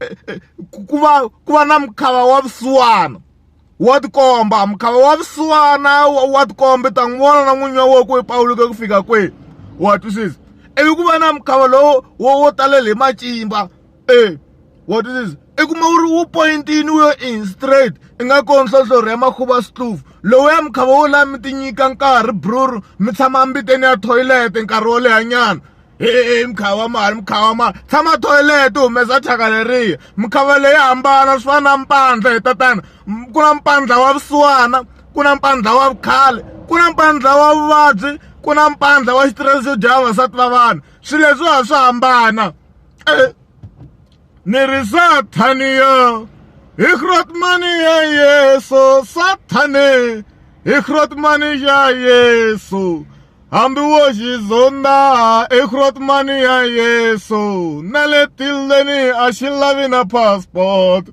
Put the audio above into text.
eh, eh, ku va ku va na mukhava wa vusiwana wa tikomba mukhava wa vusiwana wa tikomba ta n'wi vona na n'winyi wa wona ku pawuluke ku fika kwihi wa twisisa ivi ku va na mukhava lowo wo wo talele hi macimba e wa twisisa i kuma wu ri wu pointini wu yo in straight i nga ko nhlohlorhi ya makhuva swihluvu lowu ya mukhava wo laha mi ti nyika nkarhi bruru mi tshama mbiteni ya toilet nkarhi wo lehanyana heyi mukhava mali mukhava mali tshama toilet u humesa thyaka leriya mukhava leyi hambana swi fana na mpandla hi tatana ku na mpandla wa vusiwana ku na mpandla wa vukhale ku na mpandla wa vuvabyi ku na mpandla wa xitirese xo dya vavasati va vanhu swilo leswiwa swa hambana . Ni ri Sathane yo hi Grootman-i ya Yeso Sathane hi Grootman-i ya Yeso hambi wo xi zondza i Grootman-i ya Yeso na le tilweni a xi lavi na passport.